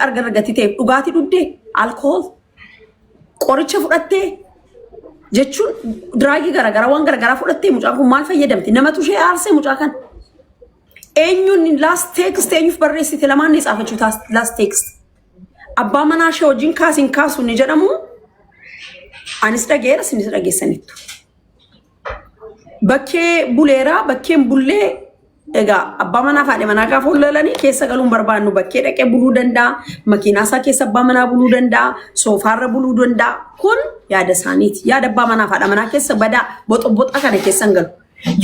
argarra gatii ta'eef dhugaatii dhugdee alkool qoricha fudhattee jechuun diraagii garaagaraa waan garaagaraa fudhattee mucaan kun maal fayyadamti namatu ishee aarsee mucaa kan eenyuun laast teekst eenyuuf barreessite lamaan ni tsaafachuu laast teekst abbaa manaa ishee wajjin kaasiin kaasuun ni jedhamu anis dhageera sinis dhageessanittu. Bakkee buleeraa bakkeen bullee egaa abbaa manaa fi haadha manaa gaafa wallalanii keessa galuun barbaannu bakkee dhaqee buluu danda'a makiinaa isaa keessa abbaa manaa buluu danda'a soofaarra buluu danda'a kun yaada isaaniiti yaada abbaa manaa fi haadha manaa keessa badaa boxoboxaa kana keessa hin galu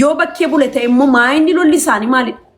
yoo bakkee bule ta'e immoo maayinni lolli isaanii maalidha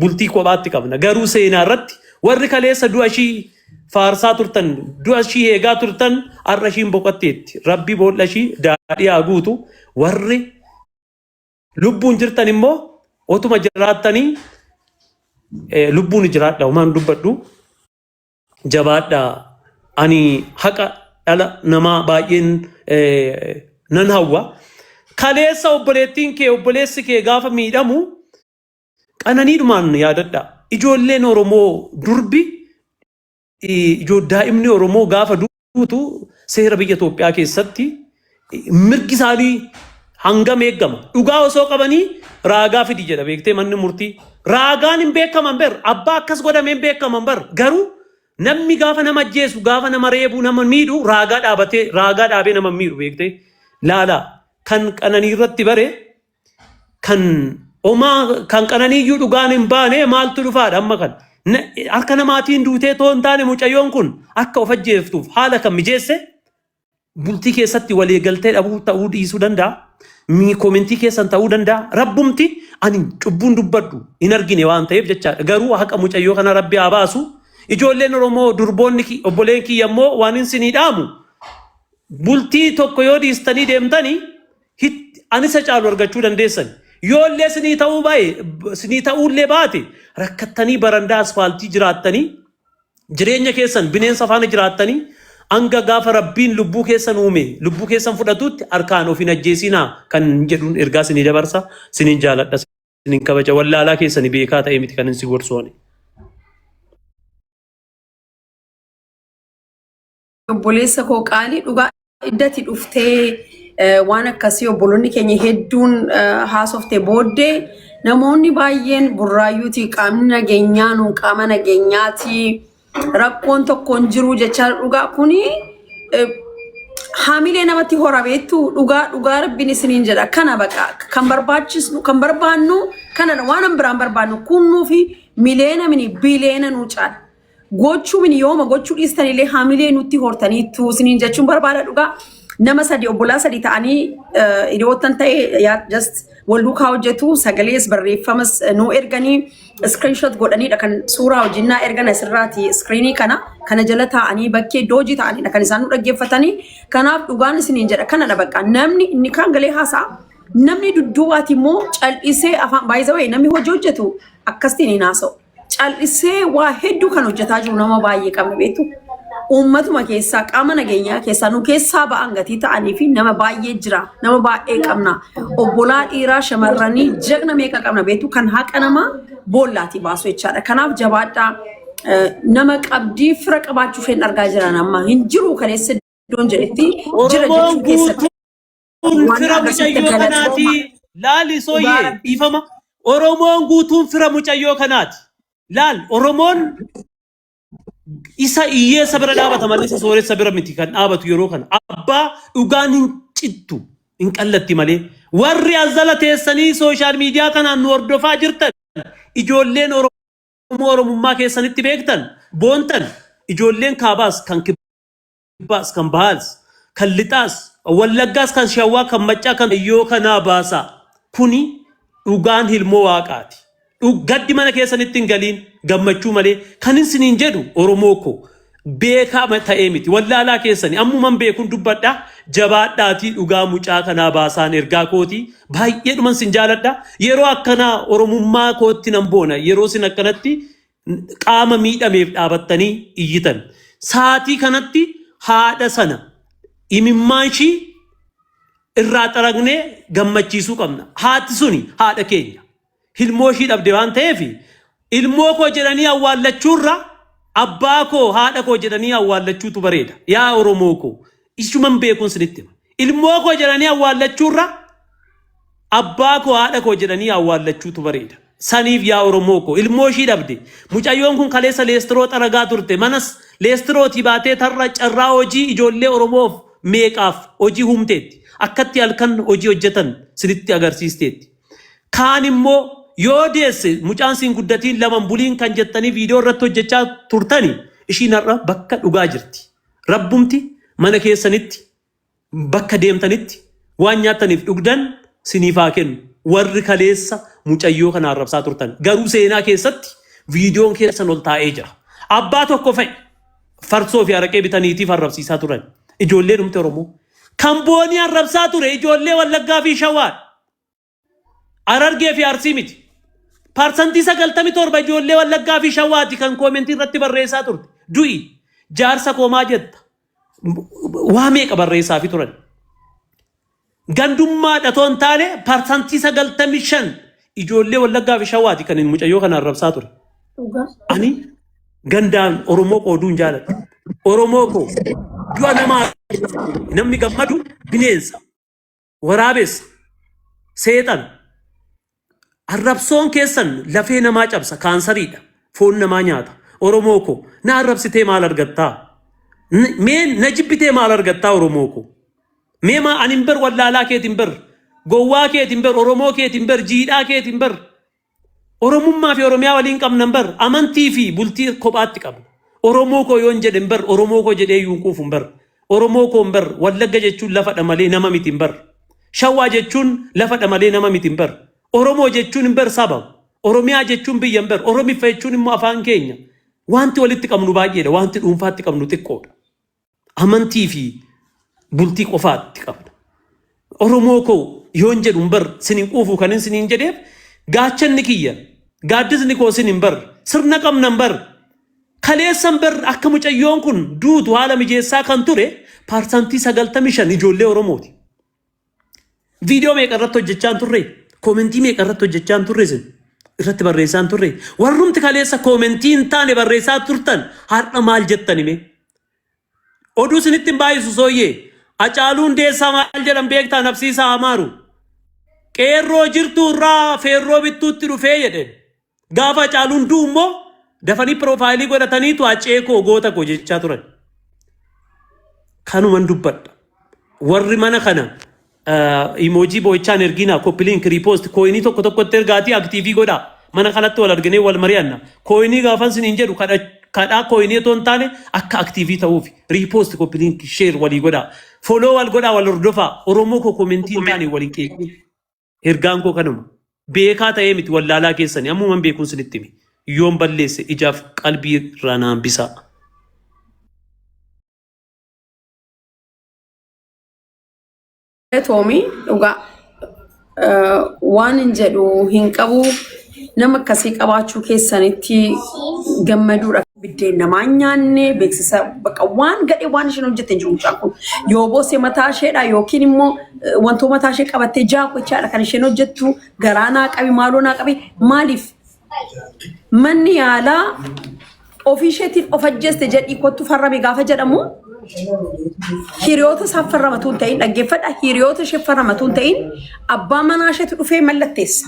bultii kophaatti qabna. Garuu seenaa irratti warri kaleessa du'a ishii faarsaa turtan, du'a ishii eegaa turtan har'a ishiin boqotteetti. Rabbi boolla ishii daadhii haa guutu. Warri lubbuun jirtan immoo otuma jiraattanii eh, lubbuun jiraadha homaan dubbadhu jabaadha. Ani haqa dhala namaa baay'een eh, nan hawwa. Kaleessa obboleettiin kee obboleessi kee gaafa miidhamu Qananiidhumaan yaadadhaa. Ijoolleen Oromoo durbi i- ijoo daa'imni Oromoo gaafa duutu seera biyya Itoophiyaa keessatti i- mirgi isaanii hangam eegama. Dhugaa osoo qabanii raagaa fidi jedha beektee manni murtii. Raagaan hin beekaman bar abbaa akkas godhamee hin beekaman bar garuu namni gaafa nama ajjeesu gaafa nama reebu nama miidhu raagaa dhaabatee raagaa dhaabee nama hin miidhu beektee laalaa kan qananii irratti bare kan omaa kan qananiiyyuu dhugaan hin baane maaltu dhufaadha amma kan Na- harka namaatiin duutee too hin taane mucayyoon kun akka of ajjeeftuuf haala kan mijeesse bultii keessatti walii galtee dhabuu ta'uu dhiisuu danda'a. Mii koomentii keessan ta'uu danda'a. Rabbumti ani cubbuun dubbadhu hin argine waan ta'eef jechaadha. Garuu haqa mucayyoo kana rabbi haa baasu. Ijoolleen Oromoo durboonni ki- obboleen kiyya immoo waan hin sinii dhaamu. Bultii tokko yoo dhiistanii deemtanii hit- an isa caalu argachuu dandeessan. Yoo illee sinii ta'uu baa'e sinii ta'uu illee baate rakkattanii barandaa asfaaltii jiraattanii jireenya keessan bineensa faana jiraattanii hanga gaafa rabbiin lubbuu keessan uume lubbuu keessan fudhatutti harkaan of hin ajjeesinaa kan jedhuun ergaa sinii dabarsa sinin jaaladha sinin kabaja wallaalaa keessani beekaa ta'ee miti kan hin si gorsoone. Obboleessa koo qaalii dhugaa iddati dhuftee eh, waan akkasii obboloonni keenya hedduun eh, haasofte booddee namoonni baay'een burraayyuuti qaamni nageenyaa nuun qaama nageenyaati rakkoon tokkoon jiruu jechaa dhugaa kuni eh, haamilee namatti hora beektu dhugaa dhugaa rabbiin isiniin jedha kana baqa kan barbaachisnu kan barbaannu kanadha waan an biraan barbaannu kunnuu fi mileena mini bileena nuu caala gochuu min yooma gochuu dhiistan illee hamilee nutti hortaniittu isiniin jechuun barbaada dhugaa nama sadi obbolaa sadi ta'anii eh, hiriyoottan ta'e yaa just wal duukaa hojjetu sagalees barreeffamas eh, nuu erganii screenshot godhaniidha kan suuraa hojinnaa ergan asirraati screenii kana kana jala taa'anii bakkee iddoo hojii ta'aniidha kan isaan nu dhaggeeffatanii kanaaf dhugaan isiniin jedha kanadha bakka namni inni kaan galee haasa'a namni dudduubaati immoo cal'isee afaan baay'isawee namni hojii hojjetu akkasitiin hin haasa'u. cal'isee waa hedduu kan hojjetaa jiru nama baay'ee qabna beektu. Uummatuma keessaa qaama nageenyaa keessaa nu keessaa ba'an gatii ta'anii fi nama baay'ee jira. Nama baay'ee qabna. Obbolaa dhiiraa shamarranii jagna meeqa qabna beektu kan haqa namaa boollaatii baasu jechaadha. Kanaaf jabaadhaa eh, nama qabdii fira qabaachuu isheen argaa jiran amma hin jiru kaleessa iddoon jedhetti jira Oromoon jechuu keessatti. guutuu Kun Waan fira akkasitti mucayyoo galatooma. kanaati. Laal Dhugaa isooyyee rabbii. dhiifama. Oromoon guutuun fira mucayyoo kanaati. Laal Oromoon isa hiyyeessa bira dhaabata malee isa sooressa bira miti kan dhaabatu yeroo kana. Abbaa dhugaan hin cittu hin qallatti malee. Warri as jala teessanii sooshaal miidiyaa kanaan nu hordofaa jirtan ijoolleen Oromoo Oromummaa keessanitti beektan boontan ijoolleen kaabaas kan kibbaas kan bahaas kan lixaas wallaggaas kan shawaa kan maccaa kan yoo kanaa baasaa kuni dhugaan hilmoo waaqaati Dhug- gaddi mana keessanitti hin galiin gammachuu malee kan hin siniin jedhu oromoo koo beekaa ma- ta'ee miti wallaalaa keessani ammuman beekun dubbadha jabaadhaatii dhugaa mucaa kanaa baasaan ergaa kooti baay'eedhuman sin jaaladha yeroo akkanaa oromummaa kootti nan boona yeroo sin akkanatti qaama miidhameef dhaabattanii iyyitan. Saatii kanatti haadha sana imimmaan ishii irraa xaragnee gammachiisuu qabna. Haati suni haadha keenya. Ilmoo ishii dhabde waan ta'eef ilmoo koo jedhanii awwaallachuurra abbaa koo haadha koo jedhanii awwaallachuutu bareeda. Yaa Oromoo koo Ishuman beekuun sinitti hima. Ilmoo koo jedhanii awwaallachuurra abbaa koo haadha koo jedhanii awwaallachuutu bareeda. Saniif yaa Oromoo koo ilmoo ishii dhabde. Mucayyoon kun kaleessa leestiroo xaragaa turte. Manas leestirootii baatee tarra carraa hojii ijoollee Oromoof meeqaaf hojii humteetti. Akkatti halkan hojii hojjetan sinitti agarsiisteetti. Kaan immoo yoo deesse mucaan siin guddatiin laman buliin kan jettanii viidiyoo irratti hojjechaa turtani ishiin har'a bakka dhugaa jirti. Rabbumti mana keessanitti, bakka deemtanitti waan nyaattaniif dhugdan siniif haa kennu. Warri kaleessa mucayyoo kana arrabsaa turtan. Garuu seenaa keessatti viidiyoon keessan ol taa'ee jira. Abbaa tokko fa'i farsoo fi araqee bitaniitiif arrabsiisaa turan. Ijoollee dhumte Oromoo. Kan boonii arrabsaa ture ijoollee Wallaggaa fi Shawaadha. Harargee fi Arsii miti. Parsantii 97 ijoollee Wallaggaa fi Shawaati kan koomentii irratti barreessaa turte. Du'i. Jaarsa koo maa jetta. Waa meeqa barreessaa fi turan. Gandummaa dhatoon taane parsantii 95 ijoollee Wallaggaa fi Shawaati kan mucayyoo kana arrabsaa ture. Dhugaa. Ani gandaan Oromoo koo duun jaaladha. Oromoo koo du'a namaa namni gammadu bineensa. Waraabessa. Seexan. Arrabsoon keessan lafee namaa cabsa kaansariidha. Foon namaa nyaata. Oromoo koo na arrabsitee maal argattaa? N- Mee na jibbitee maal argattaa Oromoo koo? Mee maa ani hin bar wallaalaa keetiin bar gowwaa keetiin bar Oromoo keetiin bar jiidhaa keetiin bar Oromummaa fi Oromiyaa waliin qabnan bar amantii fi bultii kophaatti qabna. Oromoo koo yoon jedhen bar Oromoo koo jedhee iyyuu hin quufun bar. Oromoo koon bar Wallagga jechuun lafa dha malee nama mitin bar. Shawaa jechuun lafa dha malee nama mitin bar. Oromoo jechuun bar saba. Oromiyaa jechuun biyyan bar Oromiffa jechuun immoo afaan keenya. Waanti walitti qabnu baay'ee dha waanti dhuunfaatti qabnu xiqqoo dha. amantii fi bultii qofaatti qabna. Oromoo koo yoon jedhu hin bar sin hin quufu kanin sin hin jedheef gaachanni kiyya gaaddisni koo sin hin bar sirna qabna hin bar kaleessan bar akka mucayyoon kun duutu haala mijeessaa kan ture paarsantii sagaltamii shan ijoollee Oromooti. Viidiyoo meeqa irratti hojjechaa hin turre? Koomentii meeqa irratti hojjechaa hin turre isin? Irratti barreessaa hin turre? Warrumti kaleessa koomentii hin taane barreessaa turtan har'a maal jettan hime? Oduu isinitti hin baay'isu sooyyee. Acaaluun deessaa maal jedhan beektaa nafsiisaa amaaru. Qeerroo jirtuu irraa feerroo bittuutti dhufee jedhe. Gaafa Hacaaluun du'u immoo dafanii piroofaayilii godhataniitu hacee koo goota koo jechaa turan. Kanuman dubbadha. Warri mana kana imoojii boo'ichaan ergiinaa koppiliin kiriipoosti kooyinii tokko tokkotti ergaatii aktiivii godhaa. Mana kanatti wal arginee wal mari'anna. Kooyinii gaafan siniin jedhu kadha- kadhaa kooyinii otoo hin taane akka aktiivii ta'uuf riipoosti koppiliin sheer walii godhaa. Foloo wal godhaa wal hordofaa. Oromoo koo koomentii hin taane wal hin qeeqin. Ergaan koo kanuma. Beekaa ta'ee miti wallaalaa keessani ammuman beekuun sinitti hime. Yoon balleesse ijaaf qalbii irraa naan bisaa. Galatoomi dhugaa eh, waan hin jedhu hin qabu Nama akkasii qabaachuu keessanitti gammaduudha. Biddeen namaa hin nyaanne beeksisa bakka waan gadhee waan isheen hojjette hin jiru mucaan kun. Yoo boosee mataa isheedha yookiin immoo eh, wantoo mataa ishee qabattee jaakochaadha kan isheen hojjettu garaa naa qabi maaloo naa qabi maaliif manni yaalaa ofii isheetiin of ajjeeste jedhii kottu farrame gaafa jedhamu hiriyoota isaaf farramatu hin ta'in dhaggeeffadha hiriyoota ishee farramatu hin ta'in abbaa manaa isheetu dhufee mallatteessa.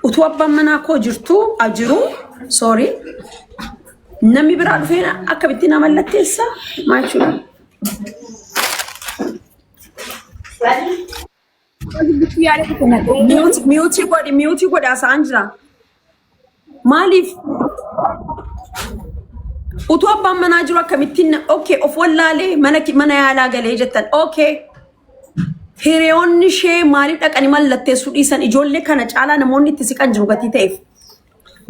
Utuu abbaan manaa koo jirtuu a jiruu sorry namni biraa dhufee akkamitti na mallatteessa maal jechuudha? Miyuutii godhi miyuutii godhi haasa'aan jira. Maaliif utuu abbaan manaa jiru akkamittiin okay of wallaalee mana ki- mana yaalaa galee jettan okay hiriyoonni ishee maaliif dhaqanii mallatteessuu dhiisan ijoollee kana caalaa namoonni itti siqan jiru gatii ta'eef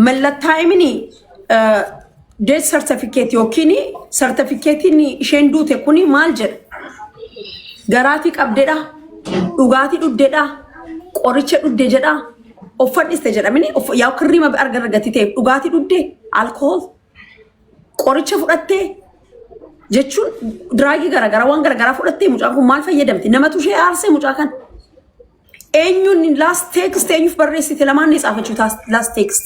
mallattaa'imini Death certificate yookiin certificate'n isheen duute kuni maal jedha? Garaatii qabdedha, dhugaatii dhugdedha, qoricha dhugde jedha, uffadhiste jedha. Mini uff- yaa kirrii mabi arga argatti ta'e dhugaatii dhugde, alkohol, qoricha fudhatte jechuun diraagii garaagaraa waan garaagaraa fudhatte mucaan kun maal fayyadamti? Namatu ishee aarsee mucaa kana. Eenyuun last text eenyuuf barreessite lamaan ni tsaafachuu last text.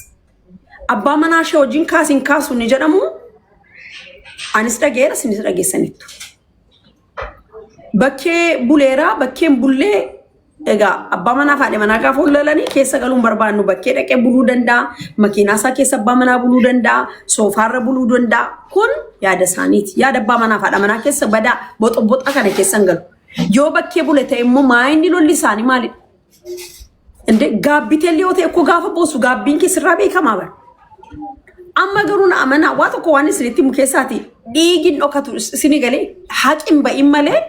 Abbaa manaa ishee wajjin kaas hin kaasu ni jedhamu. Anis dhageera isinis dhageessaniittu. Bakkee buleera bakkeen bullee egaa abbaa manaa faadhi manaa gaafa wallalanii keessa galuun barbaannu bakkee dhaqee buluu danda'a. Makiinaa isaa keessa abbaa manaa buluu danda'a. Soofaarra buluu danda'a. Kun yaada isaaniiti. Yaada abbaa manaa faadha manaa keessa badaa boxoboxa kana keessa hin galu. Yoo bakkee bule ta'e immoo maayinni lolli isaanii maalidha? Inde gaabbitee liyoo ta'e koo gaafa boosu gaabbiin kee sirraa beekamaa bara. Amma garuu na amanaa waa tokko waan isinitti himu keessaati dhiigin dhokatu is- isini galee haqin ba'in malee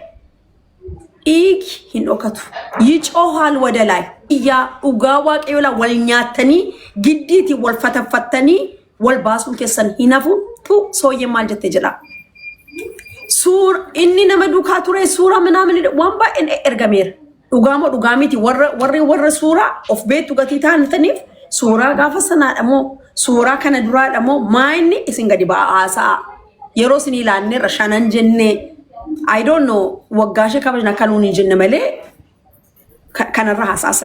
dhiigi hin dhokatu. Yicoo haal wadalaay iyyaa dhugaa waaqayyoolaa wal nyaattanii giddiiti wal fataffattanii wal baasuun keessan hin hafu tu sooyyee maal jette jedhaa. Suur inni nama duukaa ture suuraa minaa minidha waan baay'een ergameera. Dhugaa moo dhugaa miti warra warri warra suuraa of beektu gatii taanitaniif suuraa gaafa sanaadha moo suuraa kana duraadha moo maa inni isin gadi ba'aa haasa'a. Yeroo isin ilaalneerra shanan jennee I don't know waggaa ishee kabajna akka nuun hin jenne malee ka- kanarra haasa'a.